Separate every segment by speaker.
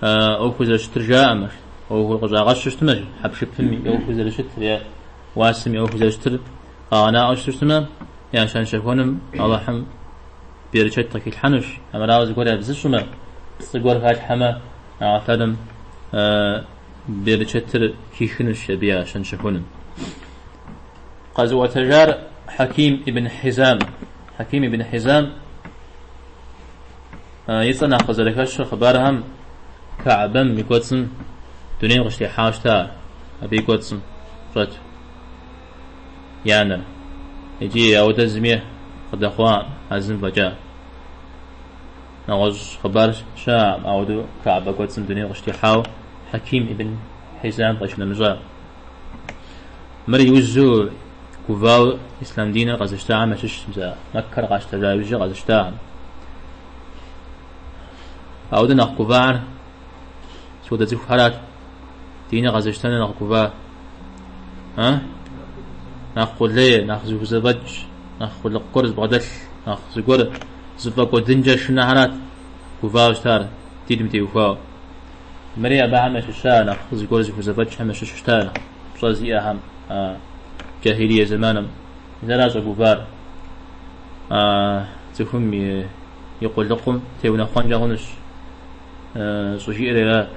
Speaker 1: ӏуэхур зэрыщытыр жаӏэмэ, ӏуэхур къыщӏагъэщу щыщтмэ, хьэпшыпым и ӏуэхур зэрыщытыр е уасэм и ӏуэхур зэрыщытыр къагъэнаӏуэу щыщтмэ, я щэнщэхуэным Алыхьым берычэт къыхилъхьэнущ. Хьэмэрауэ, зыгуэр ябзыщӏмэ, пцӏы гуэр халъхьэмэ, Алыхьым берычэтыр хихынущ абы я щэнщэхуным. Къэзыӏуэтэжар Хьэким ибн Хьизам. Хьэким ибн Хьизам И цӏэ нэхъ къызэрыхэщыр хъыбархэм Каабэм и кӏуэцӏым дунейм къыщытехьауэ щыта ар, абы и кӏуэцӏым щӏэту и анэр. Иджы ауэдэ зыми къыдэхъуакъым, а зым фӏэкӏа. Нэгъуэщӏ хъыбар щыӏэкъым ауэдэу Каабэ кӏуэцӏым дунейм къыщытехьауэ Хьэким ибн Хьизам къыщынэмыщӏа. Мыр иужьу гувау ислъам диныр къэзыщтахэм ящыщщ, мис а Маккэр къащтэжа иужьу къэзыщтахэм. Ауэдэ нэхъ гувар содэ цӏыхухэрат. Диныр къэзыщтэныр нэхъ гува. А? Нэхъ къулей, нэхъ зыхузэфӏэкӏ, нэхъ къулыкъу гуэр зыбгъэдэлъ, нэхъ зыгуэр зыфӏэкӏуэдынкӏэ шынэхэрат гувауэ щытар диным теухуауэ. Мыри абыхэм ящыща нэхъ зыгуэр зыхузэфӏэкӏхэм ящыщу щыта, нэхъ пщӏэ зиӏэхэм а джахилие зэманым. Мис ара щӏэгувар а цӏыхум и и къулыкъум теунэхъуэнкӏэ хъунущ щӏыжиӏэр арат.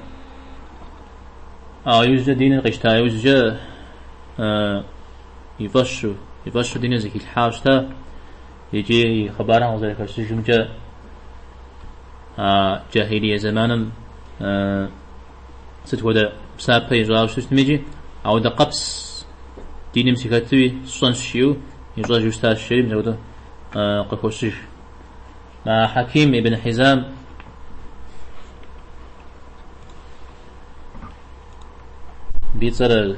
Speaker 1: Ауэ иужькӏэ диныр къищта иужькӏэ и фӏэщу, и фӏэщу диныр зыхилъхьауэ щыта. Иджы и хъыбарым къызэрыхэщыжымкӏэ, а джахилие зэманым сыт хуэдэ псапэ ищӏауэ щыщтми иджы, ауэдэ къабзэ диным сыхэтуи сщӏэнщ жиӏэу ищӏэжу щытащ, жери мис апхуэдэу къыхощыж. Мы Хьэким ибн Хьизам и цӏэр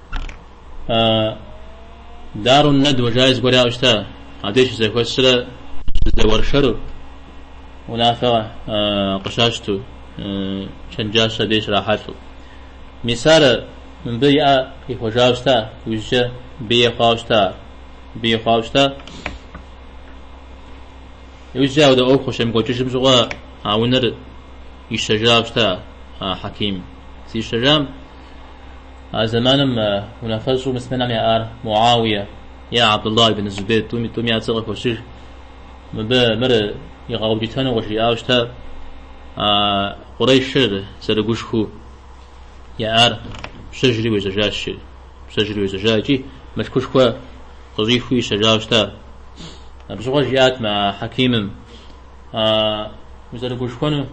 Speaker 1: Дарун Надва жаи зыгуэр яӏэу щыта, абдеж щызэхуэсрэ щызэуэршэру, унафэ къыщащту, чэнджащэ абдеж щрахьэлӏэу. Мис ар мыбы и ӏэ ихуэжауэ щыта, иужькӏэ абы ей хъуауэ щыта ар, абы ей хъуауэ щыта. Иужькӏэ ауэдэ ӏуэху щемыкӏуэкӏыжым щыгъуэ а унэр ищэжауэ щыта а Хьэким. Зищэжам, А зэманым унафэщӏу муслъымэнхэм яӏар Муауие е Абдулла ибн Зубейр тӏуми я цӏэр къыхощыж. Мыбы мыр игъэукӏытэну къыжриӏауэ щыта а къурейшыр зэрыгушхуэу яӏар, пщэжри уежьэжащи, пщэжри уежьэжа икӏи мылъкушхуэ къыщӏихыу ищэжауэ щыта. Абы щыгъуэ жиӏат мы а хьэкимым, А узэрыгушхуэну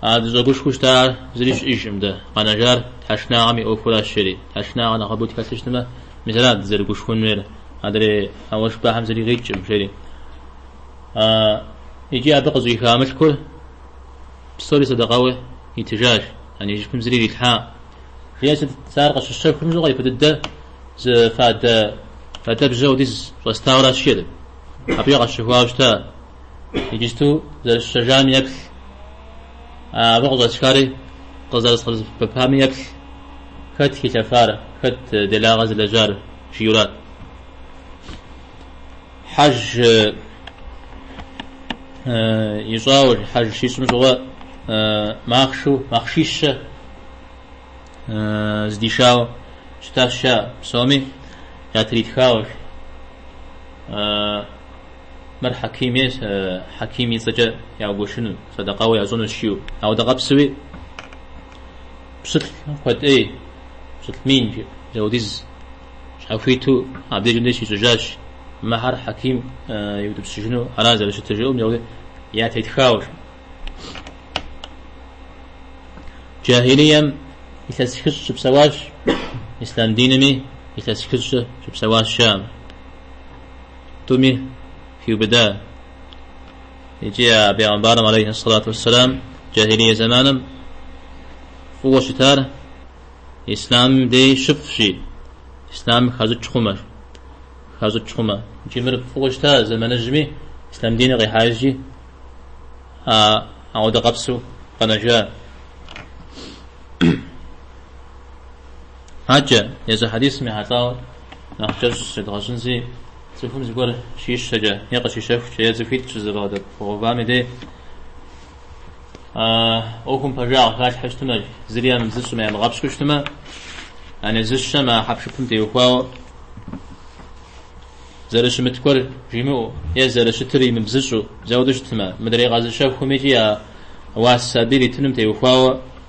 Speaker 1: А дыщӏэгушхуэу щытар зыри щыӏэжкъым дэ. Къэнэжар тхьэшынагъэм и ӏуэхуращ, жери. Тхьэшынагъэ нэхъыбэу тхэлъ щытмэ, мис арат дызэрыгушхуэн хуейр, адрей а уэшх бахьэм зыри къикӏкъым, жери. Икӏи абы къыщӏиха мылъкур псори сэдэкъэу итыжащ, яни и жыпым зыри ирилъхьа. Жиӏэ сыт, сэ ар къыщысщэхум щыгъуэ ипэ дыдэ зы фадэ фадэбжьэ хуэдиз щӏэстауэращ, жери. Абыкӏэ къэсщэхуауэ щыта? Иджысту зэрысщэжам еплъ, абы къыщӏэсхари къызэрысхуэсэбэпами еплъ, хэт хилъэфар, хэт делагъэ зылэжьар, жиӏэурат. Хьэж ищӏауэ, хьэж щищӏым щыгъуэ махъшу, махъшищэ здишауэ щытащ, жаӏэ, псоми ятритхауэ. Мыр Хьэким и, Хьэким и цӏэкӏэ яугуэшыну, садэкъауэ ящӏыну жиӏэу. Ауэдэ къабзэуи, пщылӏ куэд ӏей, пщылӏ мин жи, ауэдиз щхьэхуиту абдежым деж щищӏыжащ. Мыхэр Хьэким иутӏыпщыжыну ара зэрыщытыр жиӏэу ауэдэ ятетхауэ жи. Джахилием илъэс хыщӏ щыпсэуащ, ислъам динми илъэс хыщӏкӏэ щыпсэуащ жаӏэм. Тӏуми хиубыда икӏи а Пегъымбарым алейхьи сэлату уэсселам джахилие зэманым фӏыуэ щытар ислъамым дей щыфӏщи, ислъам хащӏыкӏ хъумэ, хащӏыкӏ хъумэ. Икӏи мыр фӏыуэ щыта зэманыжьми, ислъам диныр къихьа иужьи, а ауэдэ къабзэу къэнэжа. Аджэ, езы хьэдисым ехьэлӏауэ нэхъ кӏэщӏ зыщедгъэщӏынщи, цӏыхум зыгуэр щищэкӏэ е къыщищэхукӏэ е цӏыхуитӏ щызэбгъэдэувам и дей ӏуэхум пэжагъ халъхьэу щытмэ, зыри ямыбзыщӏмэ, ямыгъэпщкӏуу щытмэ, яни зыщэм а хьэпшыпым теухуауэ зэрыщымыт гуэр жимыӏэу е зэрыщытыр имыбзыщӏу зауэдэу щытмэ, мыдрей къэзыщэхуми икӏи а уасэ абы иритыным теухуауэ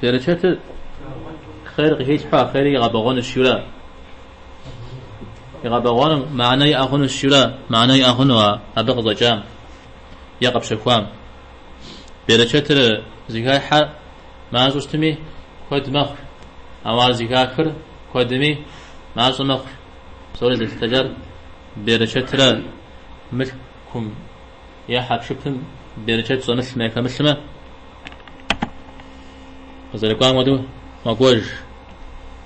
Speaker 1: Берычэтыр хъер къыхилъхьу а хъери игъэбэгъуэну жиӏэура игъэбэгъуэнум мыанэ иӏэ хъуну жиӏэура мыанэ иӏэ хъуну а абы къыщӏэкӏам е къэпщэхуам. Берычэтыр зыхахьэр мащӏэу щытми куэд мэхъу, ауэ ар зыхахыр куэдми мащӏэ мэхъу. Псори зэлъытыжар берычэтыра мылъкум Е хьэпшыпым берычэт щӏэмылъмэ е хэмылъмэ, къызэрыкӏуам хуэдэу мэкӏуэж,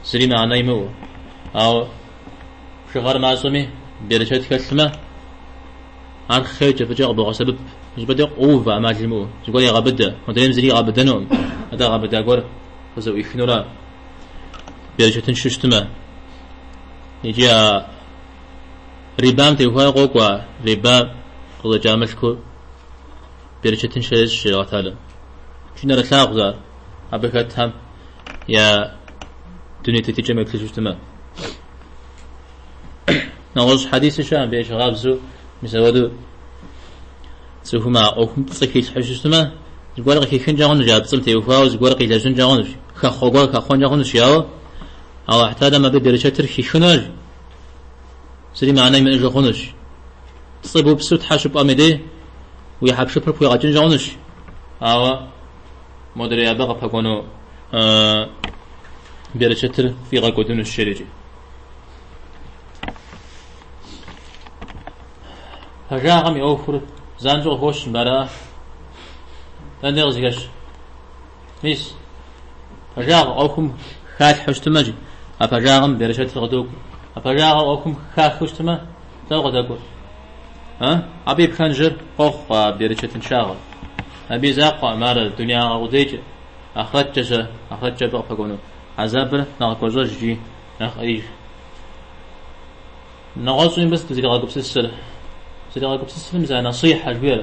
Speaker 1: зыри мыхьэнэ имыӏэу. Ауэ бжыгъэр мащӏэми берычэт хэлъмэ, ар хъеркӏэ фӏыкӏэ къыбогъэсэбэп. И щӏыпӏэ де къоувэ ӏэмал имыӏэу, зыгуэр егъэбыдэ. Модрейм зыри игъэбыдэнукъым, атӏэ гъэбыда гуэр къызэӏуихынура берычэтыншэу щытмэ икӏи а Рибам теухуауэ къокӏуэ, рибам къыхэкӏа мылъкур берычэтыншэ ещӏ жери Алыхь Тхьэлэм. Икӏи нэрылъагъущ ар, абы хэтхэм я дуней тетыкӏэм еплъыжу щытымэ. Нэгъуэщӏ хьэдиси щыӏэ, абы ещхьыркъабзу мис ауэду цӏыхум а ӏуэхум пцӏы хилъхьу щытымэ, зыгуэр къыхихынкӏэ хъунущ, а пцӏым теухуауэ зыгуэр къилэжьынкӏэ хъунущ, хэхъуэ гуэр хэхъуэнкӏэ хъунущ, ауэ Алыхь Тхьэлэм абы берычэтыр хихынущ. Зыри мыанэ имыӏэжу хъунущ. Пцӏы бупсу тхьэ щыпӏуэм и дей уи хьэпшыпыр пхуигъэкӏынкӏэ хъунущ. Ауэ модрей абы къыпэкӏуэну берычэтыр пфӏигъэкӏуэдынущ жери икӏи. Пэжагъым и ӏуэхур занщӏэу къыхощ мыбы, аракъэ. Дэнэ де къызыхэщ? Мис, пэжагъ ӏуэхум халъхьэу щытымэ, жи, а пэжагъым берычэтыр къыдокӏуэ. А пэжагъыр ӏуэхум хахэу щытымэ, дауэ къыдэкӏуэр? А? Абы и пхэнжыр къохъу а берычэтыншагъэр. Абы и закъуэкъым ар дунеягъэ къудейкӏэ, ахърэткӏэ щэ, ахърэткӏэ абы къыпэкӏуэну хьэзабыр нэхъ гуащӏэж икӏи нэхъ ӏеиж. Нэгъуэщӏи мыбы сыт узригъэгупсысыр? Узригъэгупсысыр мис а насихьэ жиӏэр.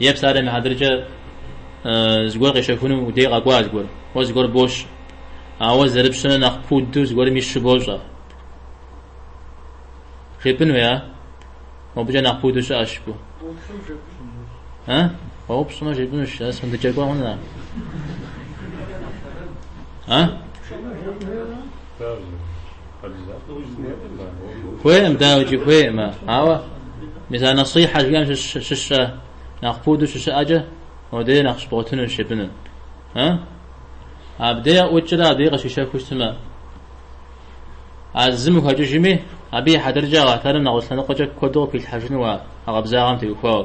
Speaker 1: Е псалъэм и хьэтыркӏэ зыгуэр къещэхуну уи дей къэкӏуа зыгуэр? Уэ зыгуэр бощэ. Ауэ зэрыпщэм нэхъ нэхъ пуду зыгуэрым ищэу бощӏэ. Жепӏынуи, а? Мобыкӏэ нэхъ пуду щыӏэщ жыпӏэу. Къоупщӏмэ жепӏынущ. А? Къоупщӏмэ жепӏынущ. Сэ сфӏэндыкӏэкӏуэ хъуну, а? А? Хуейкъым, дауикӏи хуейкъым, ауэ мис а насихьэ жиӏэм щыщкъэ нэхъ пуду щыщыӏэкӏэ, модей нэхъ щыбгъуэтынущ жепӏыну. Абдей ӏукӏрэ абдей къыщищэхуу щытмэ, а зым ухэкӏыжми, абы и хьэтыркӏэ Алыхь Тхьэлэм нэгъуэщӏ лъэныкъуэкӏэ куэду къыпхуилъхьэжыну уэ а къабзагъэм теухуауэ.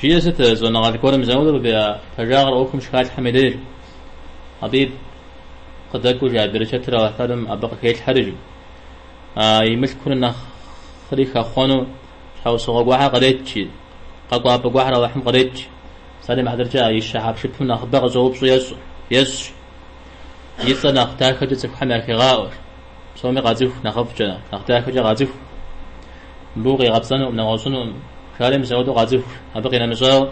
Speaker 1: Жиӏэ сыт щӏэныгъэлӏ гуэрым заулу къыбеа пэжагъыр ӏуэхум щыхалъхьэм и деж? Абы и къыдэкӏуэу, жи, а берычэтыр Алыхь Талэм абы къыхелъхьэр, жи, а и мылъкур нэхъри хэхъуэну щхьэусыгъуэ гуэхэр кърет, жи, къэкӏуапӏэ гуэхэр Алыхьым къретщ. Псалъэм и хьэтыркӏэ а ищэ хьэпшыпым нэхъыбэ къыщӏэупщӏэу ещӏ, ещӏщ. И цӏэр нэхъ дахэкӏэ цӏыхухэм яхегъаӏуэр. Псоми къацӏыху, нэхъыфӏкӏэ, нэхъ дахэкӏэ къацӏыху. Мыбы укъигъэпцӏэнукъым, нэгъуэщӏынукъым, жаӏэри мис ауэдэу къацӏыху. Абы къинэмыщӏауэ,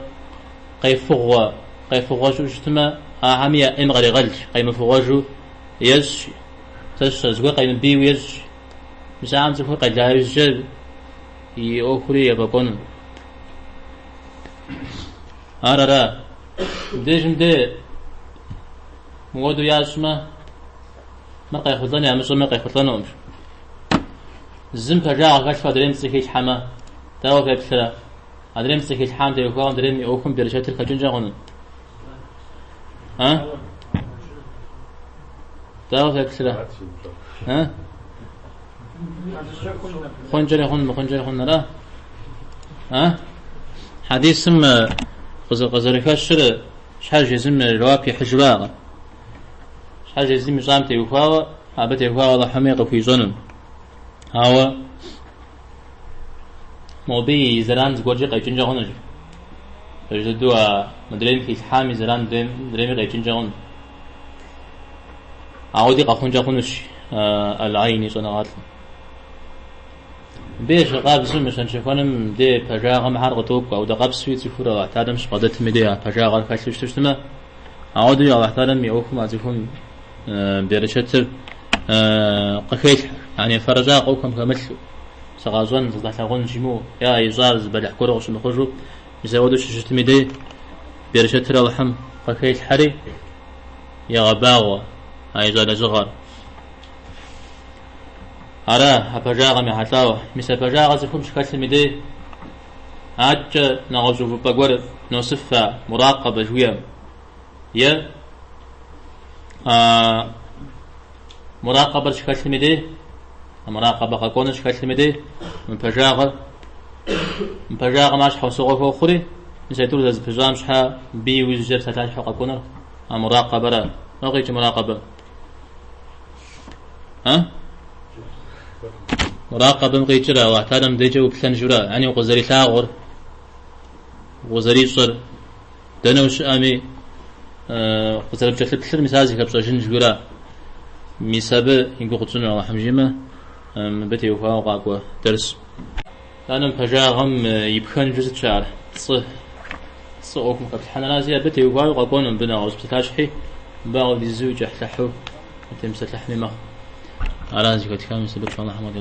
Speaker 1: къефыгъуэ, къефыгъуэ щыӏэу щытмэ, ахэми я ӏейм къаригъэлщ, къемыфыгъуэжу ещӏщ. Сэ сщӏэ, зыгуэр къемыбийуэ ещӏщ. Мис ахэм цӏыхур къела ужькӏэ и ӏуэхури ефӏэкӏуэну. Ар ара? Мыбдежым де мыуэдэу ящӏмэ, Мыр къехъулӏэн, ямыщӏэмэ, къехъулӏэнукъым. Зым пэжагъ хэлъу адрейм пцӏы хилъхьэмэ, дауэ феплърэ? Адрейм пцӏы хилъхьам теухуауэ адрейм и ӏуэхум берычэтыр хэкӏынкӏэ хъуну? А? Дауэ феплърэ? А? Хъункӏэри хъун, мыхъункӏэри хъун, ара? А? Хьэдисым къызэрыхэщыр щхьэж езым жэуап ихьыжу аракъэ? Щхьэж езым ищӏам теухуауэ, абы теухуауэ Аллахьми къыхуищӏэну. Ауэ мобы и зэран зыгуэркӏи къекӏынкӏэ хъунущ. Пэж дэду а мыдрейм хилъхьам и зэран мыдрейми къекӏынкӏэ хъунущ. Ауэди къэхъункӏэ хъунущ Аль-Айни щӏэныгъэлӏым. Мыбы ещхь къабзэу мы щэнщэхуэным де пэжагъэм хъер къыдокӏуэ, ауэдэ къабзэуи цӏыхур Аллахь Талэм щыбгъэдэтым и де а пэжагъэр хэлъу щыту щытмэ, Ауэдэуи Алыхь Талэм и ӏуэхум а цӏыхум берычэтыр къыхелъхьэ. Ани, фэрыщӏагъэ хэм хэмылъу, сыкъащӏэн, сыкъалъагъун жимыӏэу, е а ищӏар зы бэлыхь гуэру къыщымыхъужу, мис ауэдэу щыщытым и дей, берычэтыр Алыхьым къыхелъхьэри, егъэбагъуэ а ищӏа лэжьыгъэр. Ара а пэжагъэм ехьэлӏауэ? Мис а пэжагъэр цӏыхум щыхэлъым и дей, Адэкӏэ нэгъуэщӏ увыпӏэ гуэр носыф а муракъэбэ жыхуаӏэм е а муракъэбэр щыхэлъым и дей, а муракъэбэ къэкӏуэныр щыхэлъым и дей мы пэжагъыр. Мы пэжагъым ар щхьэусыгъуэ хуохъури, мис а тӏур зэрызэпыщӏам щхьэ абы иужькӏэ псалъащхьэу къэкӏуэныр а муракъэбэра. Лӏо къикӏ муракъэбэ. муракъабэм къикӏыр Аллахь Талэм дежкӏэ уплъэн жиӏэу ара ани укъызэрилъагъур укъызэрищӏыр дэнэ ущыӏэми къызэрыпкӏэлъыплъыр мис ар зыхэпщӏэжын жиӏэу ара мис абы и гугъу тщӏыну Аллахьым жимэ мыбы теухуауэ къакӏуэ дерс Анэм пэжагъым и пхэнжыр сыт щыӏэр? Цӏы. Цӏы ӏуэхум хэплъхьэнэрази абы теухуауэ къэкӏуэну мыбы нэгъуэщӏ псалъащхьи, мыбы ауэ дызэкӏэлъыхьу, дытемыпсэлъыхьми мэхъу. Аращ зыхэтхамэ и сэбэп щӏалэхьэм къыдигъэзащ.